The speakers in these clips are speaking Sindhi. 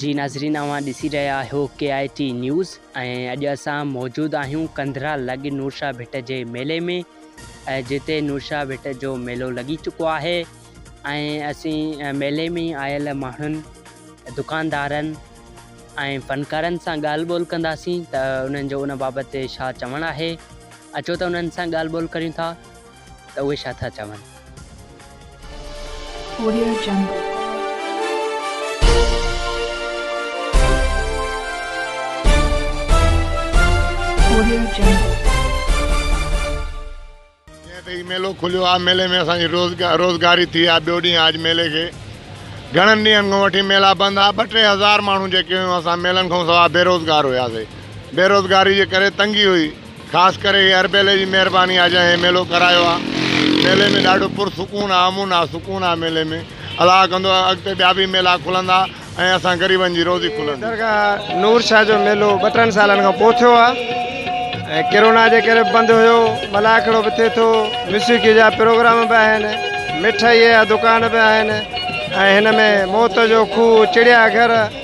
جي ناظرين اوهان ڏسي رهيا آهيو ڪي آء ٽي نيوز ۽ اڄ اسان موجود آهيون ڪنڌرا لڳ نورشاه ڀٽ جي ميلي ۾ ۽ جتي نورشاه ڀٽ جو ميلو لڳي چڪو آهي ۽ اسين ميلي ۾ آيل ماڻهن دڪاندارن ۽ فنڪارن سان ڳالهه ٻولهه ڪنداسين ته انهن جو ان بابت ڇا چوڻ آهي اچو ته انهن سان ڳالهه ٻولهه ڪريون ٿا ته اهي ڇا ٿا چون. Audio Jungle. Audio Jungle. جيئن ته هي ميلو کليو آ ميلي ۾ اسان جي روزگاري ٿي آ ٻيو ڏينهن آج ميلي کي گهڻن ڏينهن کان وٺي ميلا بند آ ٻه ٽي هزار ماڻهو جيڪي هيون اسان ميلن کان سوا بيروزگار هياسي بيروزگاري جي ڪري تنگي هئي خاص ڪري هي اربيلي جي مهرباني آ جنهن هي ميلو ڪرايو آ ميلي ۾ ڏاڍو پر سڪون آ امن آ سڪون آ ميلي ۾ الله ڪندو اڳتي ٻيا به ميلا کلندا ۽ اسان غريبن جي روزي کلندي. درگاهه نور شاهه جو ميلو ٻه ٽن سالن کان پو ٿيو آ ۽ ڪرونا جي ڪري بند هيو ملاکڙو به ٿئي ٿو موسيقي جا پروگرام به آهن مٺائي جا دڪان به آهن ۽ هن ۾ موت جو کوهه چڙيا گهر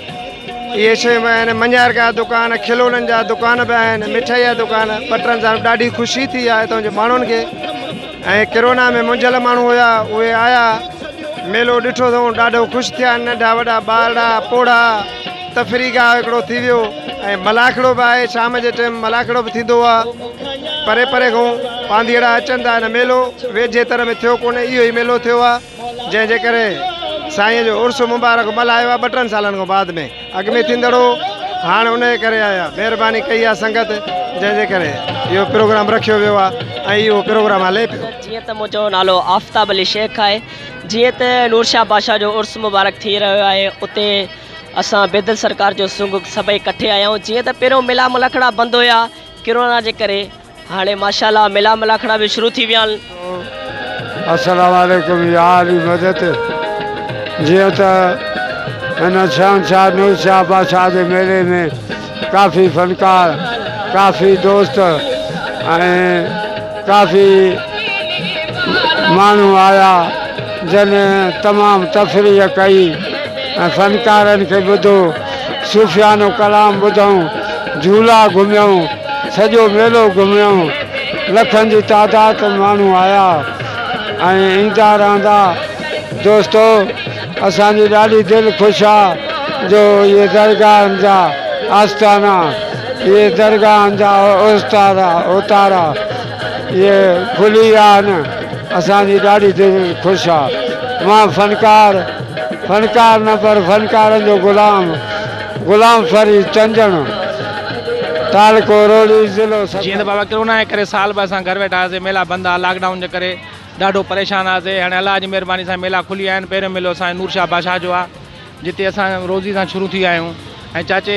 اهي شيون به آهن مڃار جا دڪان کلونن جا دڪان به آهن مٺائي جا دڪان ٻٽرن سان ڏاڍي خوشي ٿي آهي هتان جي ماڻهن کي ۽ ڪرونا ۾ منجهيل ماڻهو هيا اهي آيا ميلو ڏٺو اٿون ڏاڍو خوش ٿيا ننڍا وڏا ٻارڙا پوڙها تفري گاهه هڪڙو ٿي ويو ۽ ملاکڙو به آهي شام جي ٽيم ملاکڙو به ٿيندو آهي پري پري کان پانڌيئڙا اچن ٿا هن ميلو ويجهي تر ۾ ٿيو ڪونهي اهو ئي ميلو ٿيو آهي جنهن جي ڪري سائين جو عرس مبارڪ ملهايو آهي ٻه ٽن سالن کان بعد ۾ اڳ ۾ ٿيندڙ هو هاڻ ان جي ڪري آيا مهرباني ڪئي آهي سنگت جنهن جي ڪري اهو پروگرام رکيو ويو آهي ۽ اهو پروگرام هلي پيو جيئن ته منهنجو نالو آفتاب علي شيخ آهي جيئن ته نورشاه بادشاهه جو عرس مبارڪ ٿي رهيو آهي اتي اسان بيدل سرڪار جو سنگ سڀئي ڪٺي آيا آهيون جيئن ته پهريون ميلا ملهکڙا بند هيا ڪرونا جي ڪري هاڻي ماشاءالله ميلا ملاکڙا به شروع ٿي ويا آهن. السلام عليڪم يا علي مدد جيئن ته هن شهنشاهه نور شاهه بادشاهه جي ميلي ۾ ڪافي فنڪار ڪافي دوست ۽ ڪافي ماڻهو آيا جن تمام تفريح ڪئي ۽ فنڪارن کي ٻڌو صوفيانو ڪلام ٻڌئون، جهولا گهميئون، سڄو ميلو گهميئون، لکن جي تعداد ۾ ماڻهو آيا ۽ ايندا رهندا. دوستو اسان جي ڏاڍي دل خوش آ جو اهي درگاهن جا آستانا، اهي درگاهن جا اوستارا، اوتارا اهي کلي ويا آهن، اسان جي ڏاڍي دل خوش آ. مان فنڪار. فنڪار نه پر فنڪارن جو غلام غلام فريد چنجڻ، تعلقو روھڙي، ضلعو جيئن ته سکر. بابا ڪرونا جي ڪري سال ٻه اسان گهر ويٺا هئاسين ميلا بند ھئا لاڪ ڊائون جي ڪري ڏاڍو پريشان ھئاسين ھاڻي الله جي مھرباني سان ميلا کلي ويا آھن پهريون ميلو اسان جو نور شاھ بادشاھ جو آ جتي اسان روزي سان شروع ٿي ويا آھيون ۽ چاچي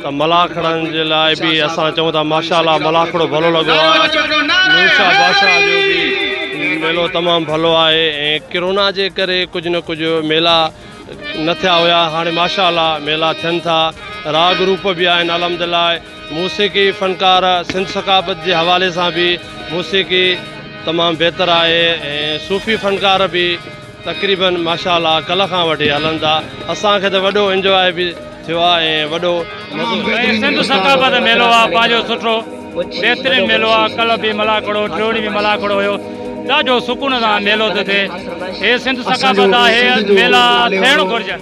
ته ملاکڙن جي لاء به اسان چئون ٿا ماشاءالله ملاکڙو ڀلو لڳو آ نورشاه بادشاهه جو به ميلو تمام ڀلو آهي ۽ ڪرونا جي ڪري ڪجهه نه ڪجهه ميلا نه ٿيا هيا هاڻي ماشاءالله ميلا ٿين ٿا راء گروپ به آهن الحمدلله موسيقي فنڪار سنڌ ثقافت جي حوالي سان به موسيقي تمام بهتر آهي ۽ صوفي فنڪار به تقريباً ماشاء الله ڪلهه کان وٺي هلن ٿا اسان کي ته وڏو انجواء به ٿيو آهي ۽ وڏو مزو به ۽ سنڌ ثقافت ميلو آهي پنهنجو سٺو بهترين ميلو آهي ڪلهه به ملاکڙو ٽيو ڏينهن به ملاکڙو هيو ڏاڍو سڪون سان ميلو ٿو ٿئي هي سنڌ ثقافت آهي ميلا ٿيڻ گهرجن.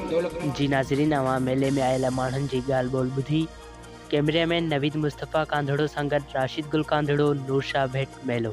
جي ناظرين اوهان ميلي ۾ آيل ماڻهن جي ڳالهه ٻولهه ٻڌي ڪيمريا مين نويد مصطفيٰ ڪانڌڙو سان گڏ راشد گل ڪانڌڙو نور شاهه ڀٽ ميلو.